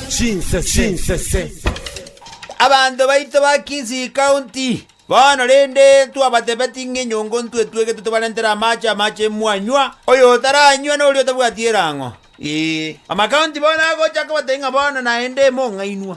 Chinsese. Abanto baito ba Kisii County, bono rende ntwabatebetie ng'a enyongo ntwe etwegetwe tobarentere amaache amache mwanywa, oyotaranywa noria otabwati erang'o. Ee, amakaunti bono agocha kobatebia ng'a bono naende mong'ainwa.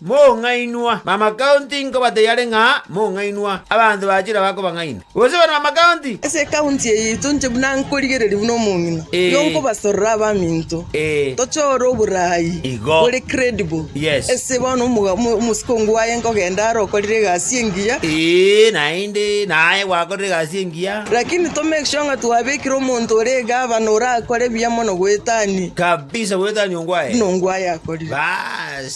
Mong'ainwa, bamakaunti nkobateyiare ng'a mong'ainwa, abanto ba chira bakobang'aina, gose bana bamakaunti. Ase ekaunti eye yaito inche buna nkorigereria buna omong'ina, igo Ee. nkobasorora abaminto, Ee. tochore oboraai Igo. bore credible. Yes. Ese bono omoga- omo- omosikongo owaye nkogenda are okorire egasi engiya, Ee, naende, naye gwakorire egasi engiya. lakini to make sure ng'a twabekire omonto ore egavana orakore buya mono goetania Kabisa goetania ongwae. buna ongwaye akorire. Baas.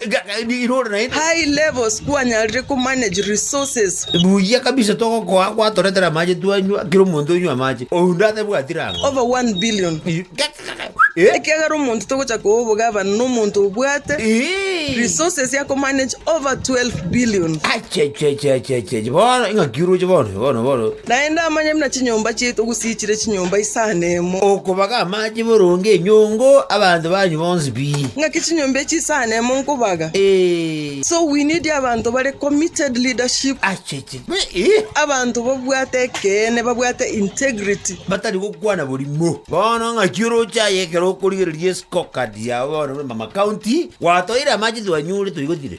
High levels kwanyarire ko manage resources. Buya kabisa togokoa gwatoretera amache twanywa kera omonto onywe amache onde atabwati rango. Over 1 billion. Ekiagera omonto togocha koa obogavana na omonto obwate resources ya ko manage over 12 billion. Achiachiachiachiachi bono ing'aki oroche bono bono bono. Naende amanye buna chinyomba chiaito gosiichire chinyomba isano emo. Okobaga amache boronge enyongo abanto banyu bonsi pi. Ng'aki chinyomba echi isano emo nkobaga? Ee. So we need abanto bare committed leadership. Acheche. Be i. Abanto babwate ekeene, babwate integrity. Batari gokwana borimo. Bono ng'aki oroche aye ekero okorigereria escorecard yao bono buna mama county, Gwatoire amache twanyure toigotire?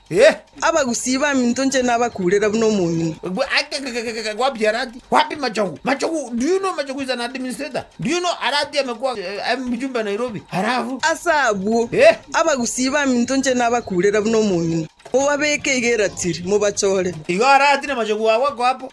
Ee! Abagusii baminto inche nabakuurera buna omong'ina. Gwapiarati? Wapi Machogu? Machogu, do you know Machogu is an administrator? Do you know aratiame kwa mjumbe Nairobi? Halafu. Ase abwo. Ee! Abagusii baminto inche nabakuurera buna omong'ina. Mobabeke iga eratiri, mobachore. Igo aratire Machogu agwo akoa apo.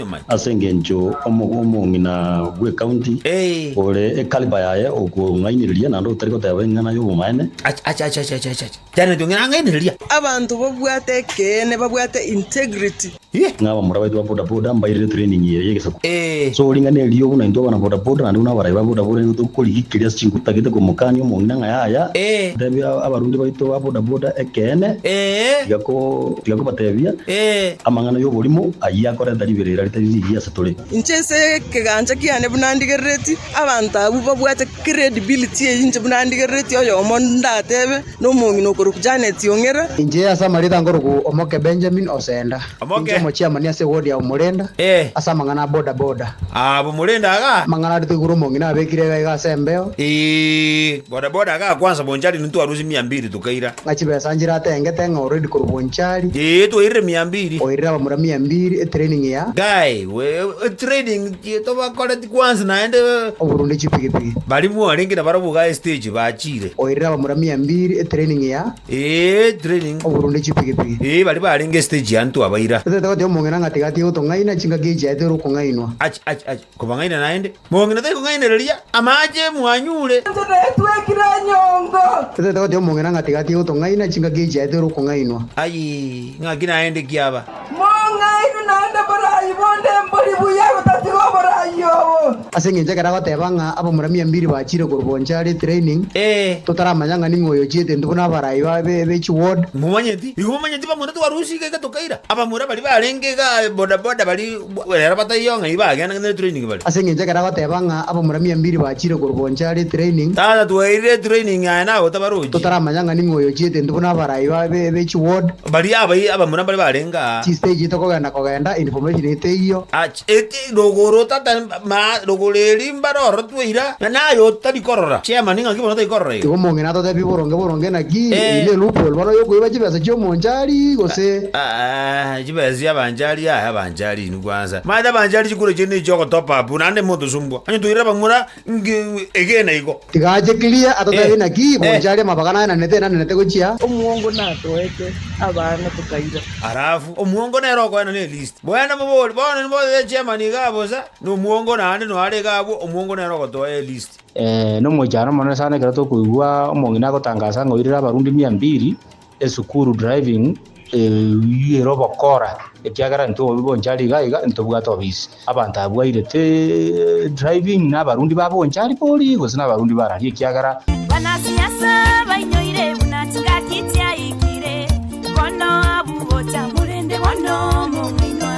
Emai. Ase engencho omong'ina bw'ecounty ore ekaliba yaye okong'ainereria naende otari goteba eng'ana y'obomaene. Acha, acha, acha, acha, acha, acha. Tiareti ong'ina ang'ainereria. Abanto babwate ekeene babwate integrity. Ye. Ng'a abamura baito ba boda boda mbairire training eye y'egesaku. Ee. So ring'ana erio buna intwe abana boda boda naende buna abarai ba boda boda nigo tokorigikiria ase chinkuru totagete komokania omong'ina ng'a yaya. Ee. Tebia abarundi baito ba boda boda ekeene. Ee. Tiga ko. Tiga kobatebia amang'ana y'oborimo ayio akorenta riberera ritari rigiya ase tore. Inche ase ekegancha kiane buna ndigerereti abanto abwo babwate credibility eyio inche buna ndigerereti oyomo ndatebe nomong'ina okorokwa Janet Ong'era. Inche ase amarita nkorokwa Omoke Benjamin Osenda. Inche omochiamani ase ewodi ya Omorenda ase amang'ana a boda boda. Amang'ana aria toigure omong'ina abekire iga iga ase embeo. okaira. Ng'a chibesa nchiratengete ng'a already korwa onchari. Eeh twairire mia mbiri. Oirire abamura mia mbiri e training ya. Guy we e training ki tobakoreti kwansi naende. Oborunde chipigipigi. Baria mwarenge na barabwo iga estage bachire. Oirire abamura mia mbiri e training ya. Eeh training. Oborunde chipigipigi. Eeh baria barenge estage yaani twabaira. Totaete gotiga omong'ina ng'a tiga atige gotong'aina chingaki echiaete ore okong'ainwa. Ach ach ach. Kobang'aina naende, mong'ina tai kong'ainereria amaache mwanyure. Inche netwekire enyongo. Totete gotiga omong'ina ng'a tiga atige gotong'aina chingaki echiaete ore okong'ainwa. Ayii, ng'aki naende ki aba? Mong'aini naende borai bonde embori buya gotatiga oborai obo. Ase engencho ekero agoteba ng'a abamura mia mbiri bachire korwa Bonchari training, Ee. totaramanya ng'a ning'o oyo ochiete intwe buna abarai baye be chi ward. Momanyeti? Igo momanyeti bamura twarusika iga tokaira. Abamura baria barenge igaa bodaboda baria. Bwa rero bataiyo ng'a iba agenda ngende training bare. Ase engencho ekero agoteba ng'a abamura mia mbiri bachire korobooncha are training. Tata twairire training aye nagotabarochia. Totaramanya ng'a ning'o oyo ochiete intwe buna abarai baye be chi ward. Baria abayi abamura mbare barenge aa. Chi stage ito kogenda kogenda information ito teiyo. Ach eti rogoro tata ma rogoro eri mbare ororo twaira na naye otari korora chairman ng'aki bono otari korora igo. Igo omong'ina atotebie boronge boronge naki. Eeh. Eye ne loophole bono oyo okoiba chibesa chiomonchari gose. Aah. Chibeesia abanchari aya abanchari inwe kwansa. Maete abanchari chikura chiaino echi ogotopa apu naende motosumbwa. Onye toirera bamura nki egena igo. Tiga ache clear atotabe Eh. naki Eh. bonchari amabaga naenanete enanenete gochia. Omwongo natoete abana tokaira. Alafu omwongo nere okoena ne list. Boene mobori bono nibo the chairman igaa bosa na omwongo naende noare igaa abwo omwongo nere ogotoa e list. Eeh nomochano omonene sana ekero tokoigwa omong'ina agotangasa ng'a oirire abarundi mia mbiri. Esukuru driving eyuire obokora ekiagera intwe obobe bonchari iga iga ntobwate obisi abanto abwo bairete driving na abarundi ba bonchari bori gose na abarundi barari ekiagera Banachi Nyasae bainyoire buna chingaki chiaikire, bono abwo gocha, korende bono momwainwa.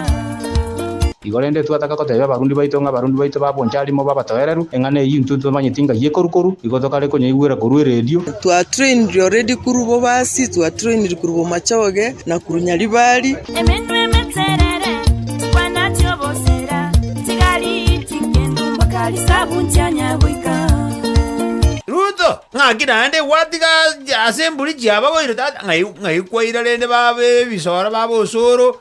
Igo rende twataka gotebia abarundi baito ng'a abarundi baito ba Bonchari mobe abatoereru. Eng'ana eyio intwe twamanyeti ng'a y'ekoru-koru, igo tokare konyeigwera korwa eredio. Twa trainiri already korwa bobasi, twa trainiri korwa bomachoge, na korwa nyaribari. Emenwa emeterere, chikwana chi'obosera, chigari ching'endu, mpaka risabu nchianya goika. Ruto, ng'aki naende gwatiga ase emburi chiabagoire tata ng'ai ng'ai kwaira rende babe ebisora babe osoro.